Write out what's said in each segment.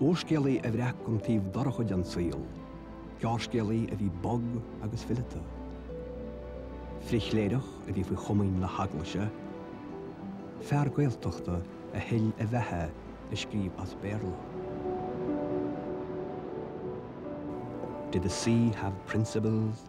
Úrscéalaí a bhreac an taobh dorcha den saol, gearrscéalaí a bhí bog agus fileata, frithchléireach a bhí faoi chomaoin na hEaglaise, fear Gaeltachta a thuill a bheatha ag scríobh as Béarla. Did the sea have principles?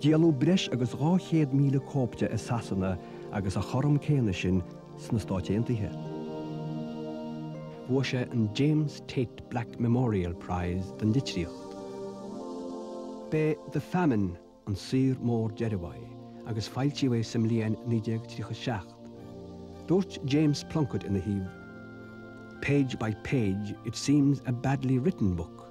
Díoladh breis agus 200,000 cóip de i Sasana agus a chothrom céanna sin sna Stáit Aontaithe. Bhuaigh sé an James Tait Black Memorial Prize don litríocht. B'é the Famine an saothar mór deiridh uaidh agus foilsíodh é sa mbliain 1937. Dúirt James Plunkett ina thaobh, Page by page, it seems a badly written book.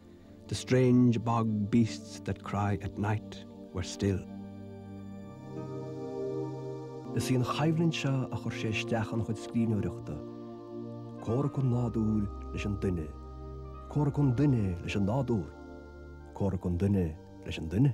The strange bog beasts that cry at night were still. Is í an choimhlint seo a chuir sé isteach ina chuid scríbhneoireachta, comhrac an nádúir leis an duine, comhrac an duine leis an nádúr, comhrac an duine leis an duine.